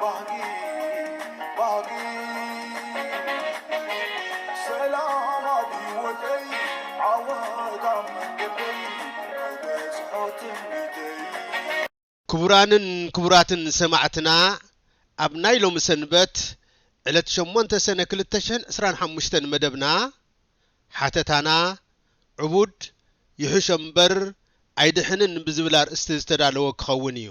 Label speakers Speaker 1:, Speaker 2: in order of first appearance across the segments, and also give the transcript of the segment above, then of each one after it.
Speaker 1: ባህጊ ባህጊ ሰላም ኣብ ሂወተይ ዓወት ኣብ መንገደይ ክበጽሖ ትምኒተይ ክቡራንን ክቡራትን ሰማዕትና ኣብ ናይ ሎሚ ሰንበት ዕለት ሸሞንተ ሰነ ክልተ ሽሕን ዕስራን ሓሙሽተን መደብና ሓተታና ዕቡድ ይሕሾ እምበር ኣይድሕንን ብዝብል ኣርእስቲ ዝተዳለወ ክኸውን እዩ።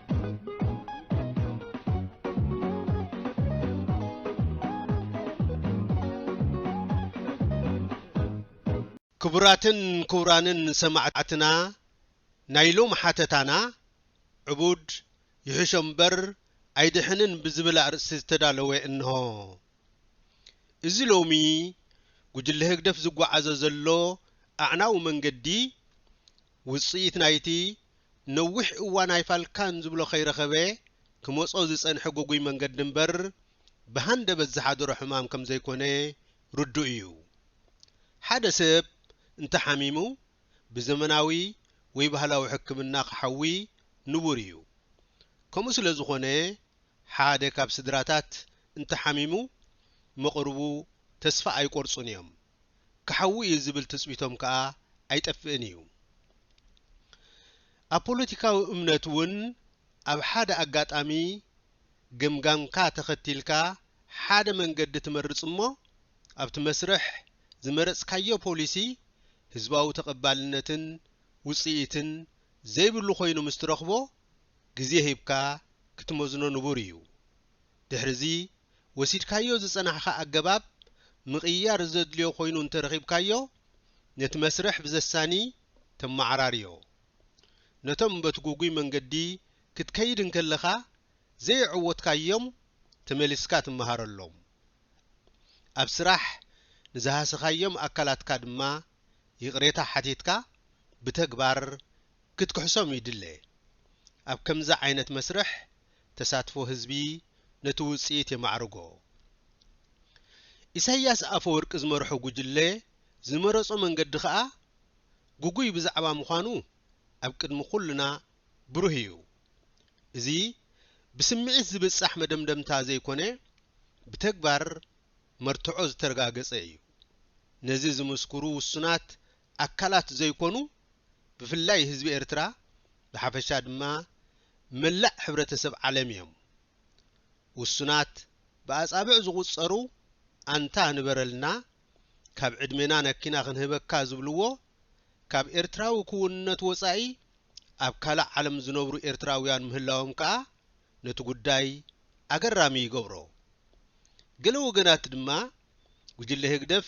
Speaker 1: ክቡራትን ክቡራንን ሰማዕትና ናይ ሎም ሓተታና ዕቡድ ይሕሾ እምበር ኣይድሕንን ብዝብል ኣርእስቲ ዝተዳለወ እንሆ። እዚ ሎሚ ጉጅለ ህግደፍ ዝጓዓዞ ዘሎ ኣዕናዊ መንገዲ ውጽኢት ናይቲ ነዊሕ እዋን ኣይፋልካን ዝብሎ ከይረኸበ ክመጾ ዝጸንሐ ግጉይ መንገዲ እምበር ብሃንደበት ዝሓደሮ ሕማም ከም ዘይኮነ ርዱእ እዩ። ሓደ ሰብ እንተ ሓሚሙ ብዘመናዊ ወይ ባህላዊ ሕክምና ክሓዊ ንቡር እዩ። ከምኡ ስለ ዝኾነ ሓደ ካብ ስድራታት እንተ ሓሚሙ መቕርቡ ተስፋ ኣይቆርጹን እዮም። ክሓዊ እዩ ዝብል ትጽቢቶም ከኣ ኣይጠፍእን እዩ። ኣብ ፖለቲካዊ እምነት እውን ኣብ ሓደ ኣጋጣሚ ገምጋምካ ተኸቲልካ ሓደ መንገዲ ትመርጽ እሞ ኣብቲ መስርሕ ዝመረጽካዮ ፖሊሲ ህዝባዊ ተቐባልነትን ውጽኢትን ዘይብሉ ኮይኑ ምስ ትረኽቦ ግዜ ሂብካ ክትመዝኖ ንቡር እዩ። ድሕሪዚ። ወሲድካዮ ዝጸናሕካ ኣገባብ ምቕይያር ዘድልዮ ኮይኑ እንተረኺብካዮ፣ ነቲ መስርሕ ብዘሳኒ ተመዓራርዮ። ነቶም በቲ ጉጉይ መንገዲ ክትከይድ እንከለኻ ዘየዕወትካዮም ተመሊስካ ትመሃረሎም። ኣብ ስራሕ ንዝሃሰኻዮም ኣካላትካ ድማ ይቕሬታ ሓቲትካ ብተግባር ክትክሕሶም ይድለ። ኣብ ከምዚ ዓይነት መስርሕ ተሳትፎ ህዝቢ ነቲ ውጽኢት የማዕርጎ። ኢሳይያስ ኣፈወርቂ ዝመርሖ ጉጅለ ዝመረጾ መንገዲ ከኣ ግጉይ ብዛዕባ ምዃኑ ኣብ ቅድሚ ኩልና ብሩህ ኢዩ። እዚ ብስምዒት ዝብጻሕ መደምደምታ ዘይኮነ ብተግባር መርትዖ ዝተረጋገጸ ኢዩ። ነዚ ዝምስክሩ ውሱናት ኣካላት ዘይኮኑ ብፍላይ ህዝቢ ኤርትራ ብሓፈሻ ድማ መላእ ሕብረተሰብ ዓለም ኢዮም። ውሱናት ብኣጻብዕ ዝቑጸሩ ኣንታ ንበረልና ካብ ዕድሜና ነኪና ክንህበካ ዝብልዎ ካብ ኤርትራዊ ክውንነት ወጻኢ ኣብ ካልእ ዓለም ዝነብሩ ኤርትራውያን ምህላዎም ከኣ ነቲ ጉዳይ ኣገራሚ ይገብሮ። ገለ ወገናት ድማ ጉጅለ ህግደፍ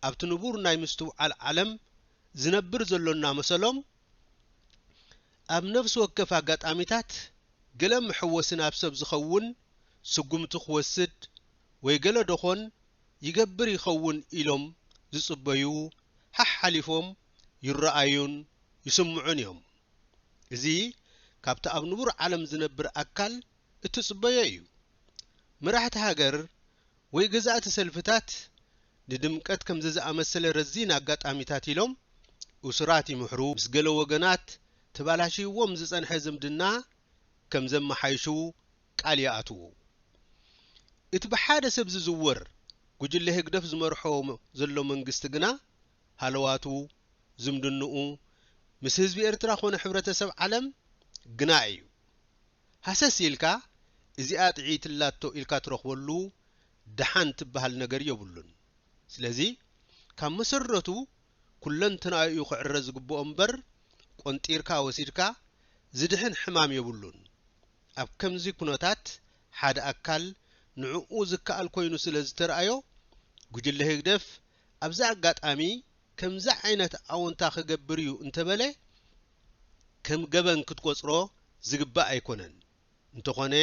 Speaker 1: ኣብቲ ንቡር ናይ ምስትውዓል ዓለም ዝነብር ዘሎ እናመሰሎም፣ ኣብ ነፍሲ ወከፍ ኣጋጣሚታት ገለ መሐወሲ ናብ ሰብ ዝኸውን ስጉምቲ ክወስድ ወይ ገለ ደኾን ይገብር ይኸውን ኢሎም ዝጽበዩ ሓሓሊፎም ይረኣዩን ይስምዑን እዮም። እዚ ካብቲ ኣብ ንቡር ዓለም ዝነብር ኣካል እትጽበዮ እዩ። መራሕቲ ሃገር ወይ ገዛእቲ ሰልፍታት ንድምቀት ከምዚ ዝኣመሰለ ረዚን ኣጋጣሚታት ኢሎም እሱራት ይምሕሩ፣ ምስ ገለ ወገናት ተባላሽይዎም ዝጸንሐ ዝምድና ከም ዘመሓይሹ ቃል ይኣትዉ። እቲ ብሓደ ሰብ ዝዝወር ጉጅለ ህግደፍ ዝመርሖ ዘሎ መንግስቲ ግና ሃለዋቱ፣ ዝምድንኡ፣ ምስ ህዝቢ ኤርትራ ኮነ ሕብረተሰብ ዓለም ግና እዩ። ሃሰስ ኢልካ እዚኣ ጥዕይቲ ኣላቶ ኢልካ ትረኽበሉ ደሓን ትበሃል ነገር የብሉን። ስለዚ ካብ መሰረቱ ኩለንትናኡ እዩ ክዕረ ዝግብኦ እምበር ቆንጢርካ ወሲድካ ዝድሕን ሕማም የብሉን። ኣብ ከምዚ ኩነታት ሓደ ኣካል ንዕኡ ዝከኣል ኮይኑ ስለ ዝተርኣዮ ጉጅለ ህግደፍ ኣብዚ ኣጋጣሚ ከምዚ ዓይነት ኣወንታ ክገብር እዩ እንተበለ ከም ገበን ክትቆጽሮ ዝግባእ ኣይኮነን። እንተኾነ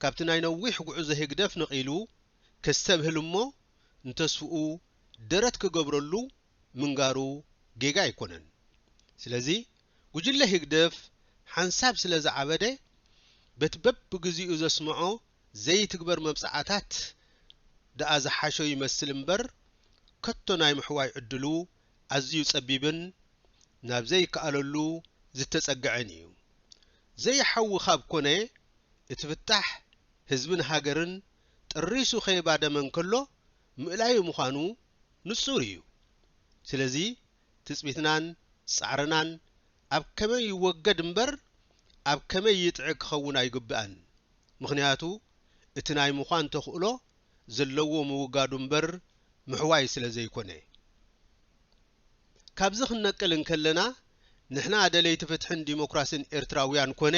Speaker 1: ካብቲ ናይ ነዊሕ ጉዕዞ ህግደፍ ነቒሉ ከስተብህል እሞ ንተስፍኡ ደረት ክገብረሉ ምንጋሩ ጌጋ ኣይኮነን። ስለዚ ጉጅለ ህግደፍ ሓንሳብ ስለዝዓበደ በቲ በብግዚኡ ዘስምዖ ዘይትግበር መብጽዓታት ደኣ ዝሓሾ ይመስል እምበር ከቶ ናይ ምሕዋይ ዕድሉ ኣዝዩ ጸቢብን ናብ ዘይከኣለሉ ዝተጸገዐን ኢዩ። ዘይሓዊ ካብ ኮነ እቲ ፍታሕ ህዝብን ሃገርን ጠሪሱ ከይባደመ እንከሎ ምእላዩ ምዃኑ ንጹር ኢዩ። ስለዚ ትጽቢትናን ጻዕርናን ኣብ ከመይ ይወገድ እምበር ኣብ ከመይ ይጥዒ ክኸውን ኣይግብኣን። ምኽንያቱ እቲ ናይ ምዃን ተኽእሎ ዘለዎ ምውጋዱ እምበር ምሕዋይ ስለ ዘይኮነ። ካብዚ ክንነቅል እንከለና ንሕና ደለይቲ ፍትሕን ዲሞክራሲን ኤርትራውያን ኮነ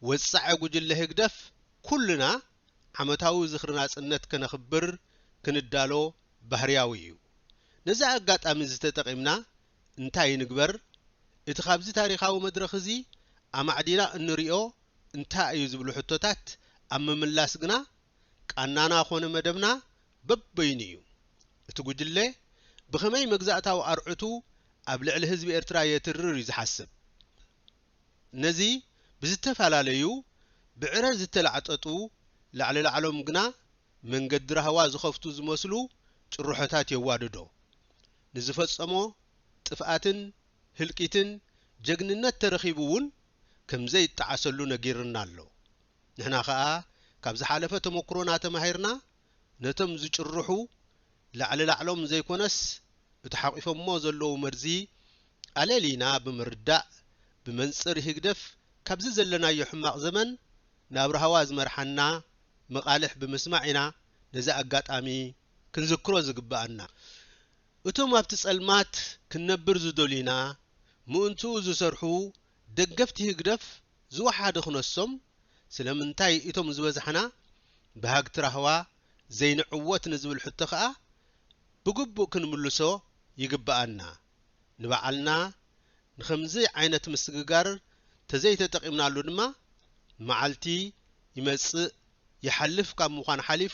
Speaker 1: ወጻዒ ጉጅለ ህግደፍ ኩልና ዓመታዊ ዝኽሪ ናጽነት ከነኽብር ክንዳሎ ባህርያዊ እዩ። ነዚ ኣጋጣሚ እዚ ተጠቒምና እንታይ ንግበር? እቲ ካብዚ ታሪኻዊ መድረኽ እዚ ኣማዕዲና እንሪኦ እንታይ እዩ ዝብሉ ሕቶታት ኣብ ምምላስ ግና ቃናና ኮነ መደብና በበይኑ እዩ። እቲ ጉጅለ ብኸመይ መግዛእታዊ ኣርዑቱ ኣብ ልዕሊ ህዝቢ ኤርትራ የትርር እዩ ዝሓስብ። ነዚ ብዝተፈላለዩ ብዕረ ዝተላዕጠጡ ላዕሊ ላዕሎም ግና መንገዲ ራህዋ ዝኸፍቱ ዝመስሉ ጭርሖታት የዋድዶ። ንዝፈጸሞ ጥፍኣትን ህልቂትን ጀግንነት ተረኺቡ እውን ከምዘይጠዓሰሉ ነጊርና ኣሎ። ንሕና ከኣ ካብ ዝሓለፈ ተመኩሮና ተማሂርና ነቶም ዝጭርሑ ላዕሊ ላዕሎም ዘይኮነስ እቲ ሓቂፎሞ ዘለዉ መርዚ ኣለሊና ብምርዳእ ብመንጽር ህግደፍ ካብዚ ዘለናዮ ሕማቕ ዘመን ናብ ራህዋ ዝመርሓና መቓልሕ ብምስማዕ ኢና ነዚ ኣጋጣሚ ክንዝክሮ ዝግብኣና፣ እቶም ኣብቲ ጸልማት ክንነብር ዝደልዩና ምእንትኡ ዝሰርሑ ደገፍቲ ህግደፍ ዝወሓደ ክነሶም፣ ስለምንታይ እቶም ዝበዛሕና በሃግቲ ራህዋ ዘይንዕወት ንዝብል ሕቶ ከኣ ብግቡእ ክንምልሶ ይግብኣና። ንባዕልና ንኸምዚ ዓይነት ምስግጋር ተዘይተጠቂምናሉ ድማ መዓልቲ ይመጽእ ይሓልፍ ካብ ምዃን ሓሊፉ፣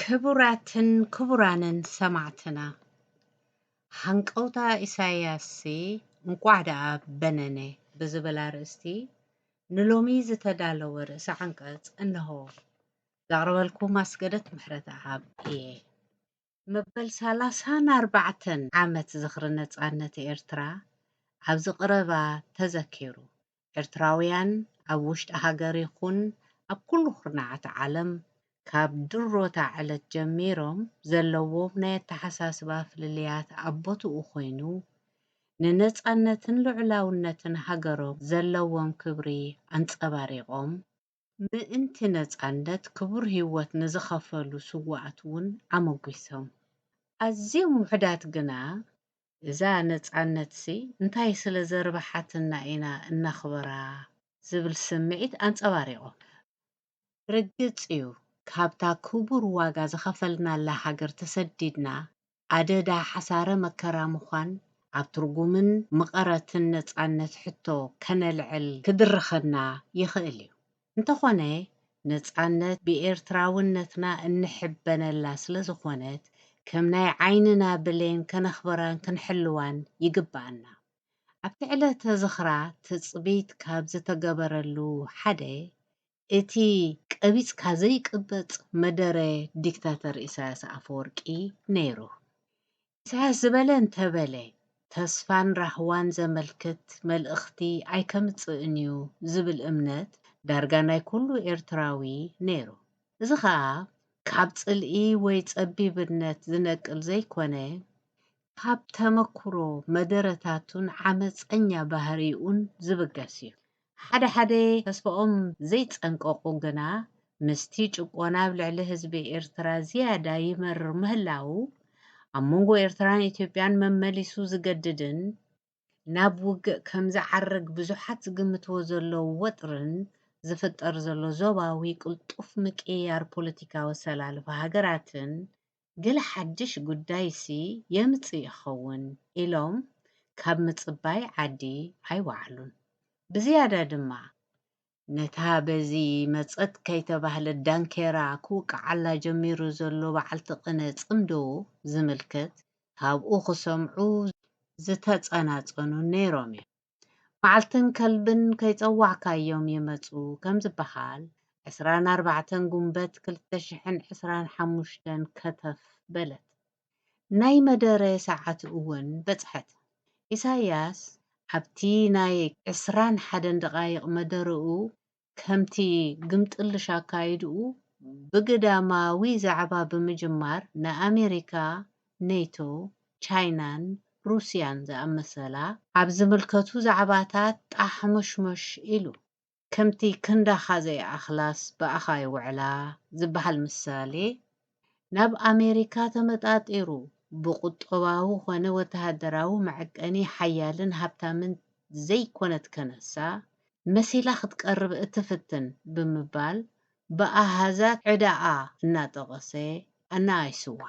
Speaker 2: ክቡራትን ክቡራንን ሰማዕትና ሃንቀውታ ኢሳያስሲ እንቋዕ ደኣ በነነ ብዝብል ኣርእስቲ ንሎሚ ዝተዳለወ ርእሰ ዓንቀጽ እነሆ። ዘቕርበልኩም ኣስገደት ምሕረተኣብ እየ። መበል ሰላሳን ኣርባዕተን ዓመት ዝኽሪ ነጻነት ኤርትራ ኣብዚ ቕረባ ተዘኪሩ። ኤርትራውያን ኣብ ውሽጢ ሃገር ይኹን ኣብ ኩሉ ኩርናዓት ዓለም ካብ ድሮ'ታ ዕለት ጀሚሮም ዘለዎም ናይ ኣተሓሳስባ ፍልልያት ኣብ ቦትኡ ኮይኑ፣ ንነጻነትን ልዑላውነትን ሃገሮም ዘለዎም ክብሪ ኣንጸባሪቖም፣ ምእንቲ ነጻነት ክቡር ህይወት ንዝኸፈሉ ስዉኣት ውን ኣመጒሶም። ኣዝዮም ውሑዳት ግና፣ እዛ ነጻነት'ሲ እንታይ ስለ ዘርብሓትና ኢና እነኽብራ? ዝብል ስምዒት ኣንጸባሪቖም። ርግጽ እዩ ካብታ ክቡር ዋጋ ዝኸፈልናላ ሃገር ተሰዲድና ኣደዳ ሓሳረ መከራ ምዃን ኣብ ትርጉምን ምቐረትን ነጻነት ሕቶ ከነልዕል ክድርኸና ይኽእል እዩ። እንተኾነ ነጻነት ብኤርትራውነትና እንሕበነላ ስለ ዝኾነት ከም ናይ ዓይንና ብሌን ከነኽብራን ክንሕልዋን ይግብኣና። ኣብቲ ዕለተ ዝኽራ ትጽቢት ካብ ዝተገበረሉ ሓደ እቲ ቀቢጽካ ዘይቅበጽ መደረ ዲክታተር ኢሳያስ ኣፈወርቂ ነይሩ። ኢሳያስ ዝበለ እንተበለ ተስፋን ራህዋን ዘመልክት መልእኽቲ ኣይከምጽእን'ዩ ዝብል እምነት ዳርጋ ናይ ኩሉ ኤርትራዊ ነይሩ። እዚ ከኣ ካብ ጽልኢ ወይ ጸቢብነት ዝነቅል ዘይኮነ ካብ ተመኩሮ መደረታቱን ዓመጸኛ ባህሪኡን ዝብገስ እዩ። ሓደ ሓደ ተስፋኦም ዘይጸንቀቑ ግና ምስቲ ጭቆና ኣብ ልዕሊ ህዝቢ ኤርትራ ዝያዳ ይመርር ምህላዉ፣ ኣብ መንጎ ኤርትራን ኢትዮጵያን መመሊሱ ዝገድድን ናብ ውግእ ከም ዝዓርግ ብዙሓት ዝግምትዎ ዘለዉ ወጥርን ዝፍጠር ዘሎ ዞባዊ ቅልጡፍ ምቅይያር ፖለቲካዊ ኣሰላልፋ ሃገራትን ገለ ሓድሽ ጉዳይሲ የምጽእ ይኸውን ኢሎም ካብ ምጽባይ ዓዲ ኣይወዓሉን። ብዝያዳ ድማ፣ ነታ በዚ መጸት ከይተባህለት ዳንኬራ ክውቅዓላ ጀሚሩ ዘሎ በዓልቲ ቅነ ጽምዶ ዝምልከት ካብኡ ክሰምዑ ዝተጸናጸኑን ነይሮም'ዮም። መዓልትን ከልብን ከይጸዋዕካዮም ይመጹ ከም ዝበሃል፣ ዕስራን ኣርባዕተን ጉንበት ክልተ ሽሕን ዕስራን ሓሙሽተን ከተፍ በለት። ናይ መደረ ሰዓት እውን በጽሐት። ኢሳይያስ ኣብቲ ናይ ዕስራን ሓደን ደቓይቕ መደረኡ ከምቲ ግምጥልሽ ኣካይድኡ ብግዳማዊ ዛዕባ ብምጅማር ንኣሜሪካ፣ ኔቶ፣ ቻይናን ሩስያን ዝኣመሰላ፣ ኣብ ዝምልከቱ ዛዕባታት ጣሕሞሽሞሽ ኢሉ፣ ከምቲ ክንዳኻ ዘይኣኽላስ ብኣኻ ይውዕላ ዝበሃል ምሳሌ ናብ ኣሜሪካ ተመጣጢሩ ብቁጠባዊ ኮነ ወተሃደራዊ መዐቀኒ ሓያልን ሃብታምን ዘይኮነት ከነሳ መሲላ ክትቀርብ እትፍትን ብምባል ብኣሃዛት ዕዳኣ እናጠቐሰ ኣነኣኢሱዋ።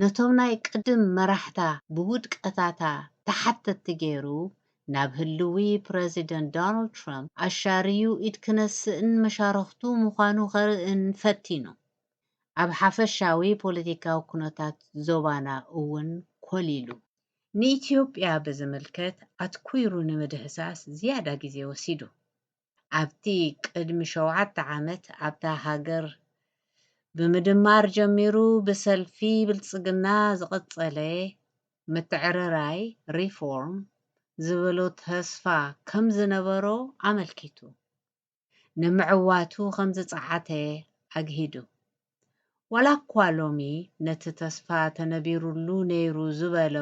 Speaker 2: ነቶም ናይ ቅድም መራሕታ ብውድቀታታ ተሓተትቲ ገይሩ ናብ ህልዊ ፕረዚደንት ዶናልድ ትራምፕ ኣሻርዩ ኢድ ክነስእን መሻርኽቱ ምዃኑ ከርእን ፈቲኑ። ኣብ ሓፈሻዊ ፖለቲካዊ ኩነታት ዞባና እውን ኮሊሉ። ንኢትዮጵያ ብዝምልከት ኣትኲሩ ንምድህሳስ ዝያዳ ግዜ ወሲዱ። ኣብቲ ቅድሚ ሸውዓተ ዓመት ኣብታ ሃገር ብምድማር ጀሚሩ ብሰልፊ ብልጽግና ዝቐጸለ ምትዕርራይ፣ ሪፎርም፣ ዝበሎ ተስፋ ከም ዝነበሮ ኣመልኪቱ። ንምዕዋቱ ከም ዝጸዓተ ኣግሂዱ። ዋላኳ ሎሚ ነቲ ተስፋ ተነቢሩሉ ነይሩ ዝበሎ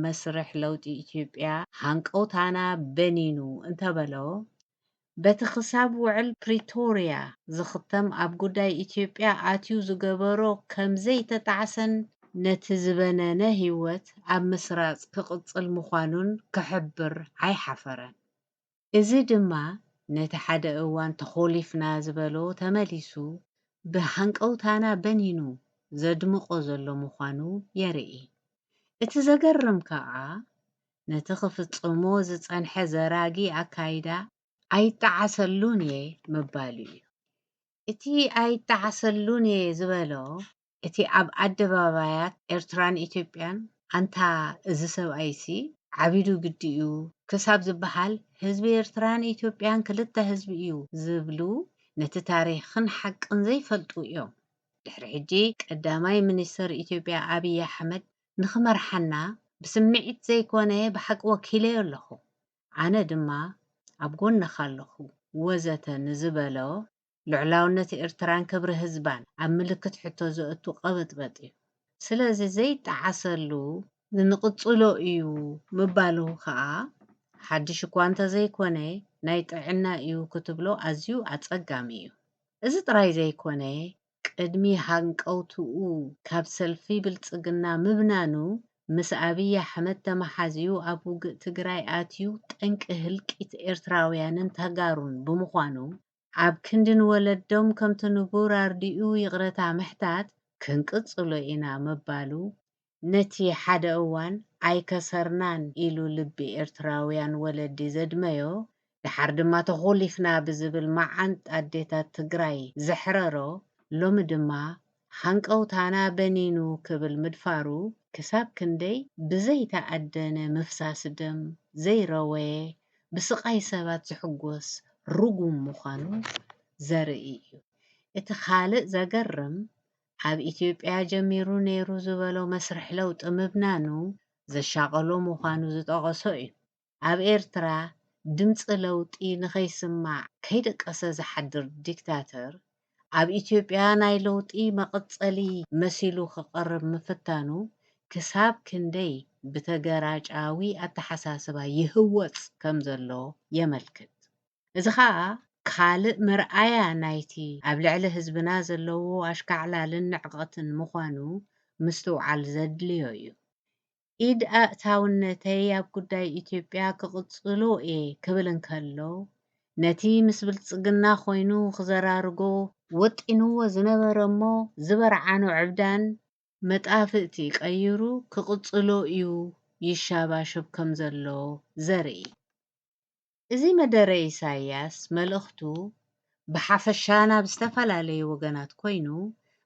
Speaker 2: መስርሕ ለውጢ ኢትዮጵያ ሃንቀውታና በኒኑ እንተበሎ፣ በቲ ክሳብ ውዕል ፕሪቶርያ ዝኽተም ኣብ ጉዳይ ኢትዮጵያ ኣትዩ ዝገበሮ ከም ዘይተጣዕሰን ነቲ ዝበነነ ህይወት ኣብ ምስራጽ ክቕጽል ምዃኑን ክሕብር ኣይሓፈረን። እዚ ድማ ነቲ ሓደ እዋን ተኾሊፍና ዝበሎ ተመሊሱ ብሃንቀውታና በኒኑ ዘድምቖ ዘሎ ምዃኑ የርኢ። እቲ ዘገርም ከኣ ነቲ ክፍጽሞ ዝጸንሐ ዘራጊ ኣካይዳ ኣይጠዓሰሉን'የ ምባሉ'ዩ። እቲ ኣይጠዓሰሉን'የ ዝበሎ እቲ ኣብ ኣደባባያት ኤርትራን ኢትዮጵያን ኣንታ እዚ ሰብኣይሲ ዓቢዱ ግዲ'ዩ ክሳብ ዝበሃል ህዝቢ ኤርትራን ኢትዮጵያን ክልተ ህዝቢ'ዩ ዝብሉ ነቲ ታሪኽን ሓቅን ዘይፈልጡ'ዮም። ድሕሪ ሕጂ ቀዳማይ ሚኒስተር ኢትዮጵያ ኣብይ ኣሕመድ ንኽመርሓና ብስምዒት ዘይኮነ ብሓቂ ወኪለዮ ኣለኹ ኣነ ድማ ኣብ ጎንኻ ኣለኹ ወዘተ ንዝበሎ፣ ልዑላውነት ኤርትራን ክብሪ ህዝባን ኣብ ምልክት ሕቶ ዘእቱ ቀበጥበጥ እዩ። ስለዚ ዘይጠዓሰሉ ንንቕጽሎ እዩ ምባሉ ከኣ ሓድሽ እኳ እንተዘይኮነ ናይ ጥዕና እዩ ክትብሎ ኣዝዩ ኣጸጋሚ እዩ። እዚ ጥራይ ዘይኮነ ቅድሚ ሃንቀውትኡ ካብ ሰልፊ ብልጽግና ምብናኑ ምስ ኣብይ ኣሕመድ ተመሓዝዩ ኣብ ውግእ ትግራይ ኣትዩ ጠንቂ ህልቂት ኤርትራውያንን ተጋሩን ብምዃኑ ኣብ ክንዲ ንወለዶም ከምቲ ንቡር ኣርዲኡ ይቕረታ ምሕታት ክንቅጽሎ ኢና ምባሉ፣ ነቲ ሓደ እዋን ኣይከሰርናን ኢሉ ልቢ ኤርትራውያን ወለዲ ዘድመዮ፣ ደሓር ድማ ተኾሊፍና ብዝብል መዓንጣ ኣዴታት ትግራይ ዘሕረሮ፣ ሎሚ ድማ ሃንቀውታና በኒኑ ክብል ምድፋሩ ክሳብ ክንደይ ብዘይተኣደነ ምፍሳስ ደም ዘይረወየ ብስቓይ ሰባት ዝሕጎስ ርጉም ምዃኑ ዘርኢ እዩ። እቲ ካልእ ዘገርም ኣብ ኢትዮጵያ ጀሚሩ ነይሩ ዝበሎ መስርሕ ለውጢ ምብናኑ ዘሻቐሎ ምዃኑ ዝጠቐሶ እዩ። ኣብ ኤርትራ ድምጺ ለውጢ ንኸይስማዕ ከይደቀሰ ዝሓድር ዲክታተር ኣብ ኢትዮጵያ ናይ ለውጢ መቐጸሊ መሲሉ ክቐርብ ምፍታኑ ክሳብ ክንደይ ብተገራጫዊ ኣተሓሳስባ ይህወጽ ከም ዘሎ የመልክት። እዚ ኸኣ ካልእ መርኣያ ናይቲ ኣብ ልዕሊ ህዝብና ዘለዎ ኣሽካዕላልን ንዕቐትን ምዃኑ ምስትውዓል ዘድልዮ እዩ። ኢድ ኣእታውነተይ ኣብ ጉዳይ ኢትዮጵያ ክቕጽሎ እየ ክብል እንከሎ፣ ነቲ ምስ ብልጽግና ኮይኑ ክዘራርጎ ወጢንዎ ዝነበረ እሞ ዝበርዓኖ ዕብዳን፣ መጣፍእቲ ቀይሩ ክቕጽሎ እዩ ይሻባሸብ ከምዘሎ ዘርኢ። እዚ መደረ ኢሳይያስ መልእኽቱ ብሓፈሻ ናብ ዝተፈላለዩ ወገናት ኮይኑ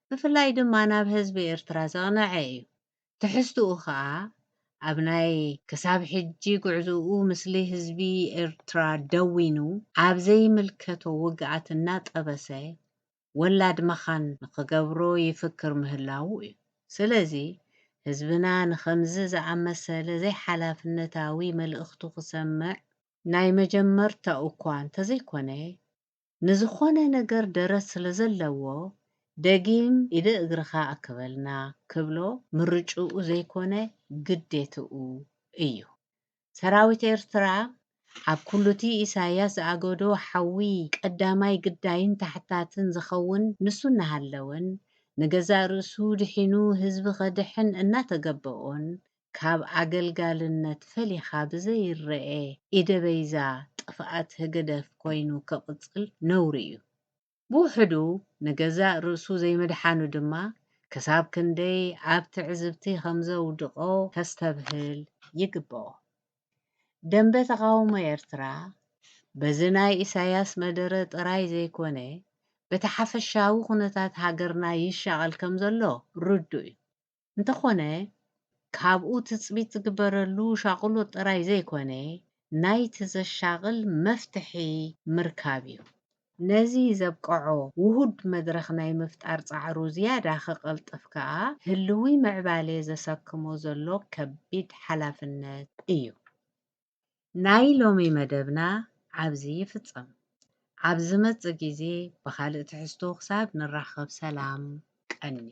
Speaker 2: ብፍላይ ድማ ናብ ህዝቢ ኤርትራ ዘቕነዐ እዩ። ትሕዝትኡ ከኣ ኣብ ናይ ክሳብ ሕጂ ጉዕዞኡ ምስሊ ህዝቢ ኤርትራ ደዊኑ ኣብ ዘይምልከቶ ውግኣት እናጠበሰ ወላድ መኻን ንኽገብሮ ይፍክር ምህላዉ እዩ። ስለዚ ህዝብና ንኸምዚ ዝኣመሰለ ዘይሓላፍነታዊ መልእኽቱ ክሰምዕ፣ ናይ መጀመርታኡ'ኳ እንተዘይኮነ ንዝኾነ ነገር ደረት ስለዘለዎ ደጊም ኢደ እግርኻ ኣክበልና ክብሎ ምርጭኡ ዘይኮነ ግዴትኡ እዩ። ሰራዊት ኤርትራ ኣብ ኩሉቲ ኢሳያስ ዝኣገዶ ሓዊ ቀዳማይ ግዳይን ታሕታትን ዝኸውን ንሱ እናሃለወን ንገዛእ ርእሱ ድሒኑ ህዝቢ ከድሕን እናተገበኦን ካብ ኣገልጋልነት ፈሊኻ ብዘይረኤ ኢደበይዛ ጥፍኣት ህግደፍ ኮይኑ ክቕጽል ነውሪ እዩ። ብውሕዱ ንገዛእ ርእሱ ዘይምድሓኑ ድማ ክሳብ ክንደይ ኣብ ትዕዝብቲ ከም ዘውድቖ ከስተብህል ይግበኦ። ደምበ ተቓውሞ ኤርትራ በዚ ናይ ኢሳያስ መደረ ጥራይ ዘይኮነ በቲ ሓፈሻዊ ኩነታት ሃገርና ይሻቐል ከም ዘሎ ርዱእ'ዩ። እንተኾነ ካብኡ ትጽቢት ዝግበረሉ ሻቕሎት ጥራይ ዘይኮነ፣ ናይቲ ዘሻቕል መፍትሒ ምርካብ'ዩ። ነዚ ዘብቀዖ ውሁድ መድረኽ ናይ ምፍጣር ጻዕሩ ዝያዳ ክቐልጥፍ ከኣ ህልዊ ምዕባሌ ዘሰክሞ ዘሎ ከቢድ ሓላፍነት እዩ። ናይ ሎሚ መደብና ኣብዚ ይፍጸም። ኣብ ዝመጽእ ግዜ ብኻልእ ትሕዝቶ ክሳብ ንራኸብ ሰላም ቀንዩ።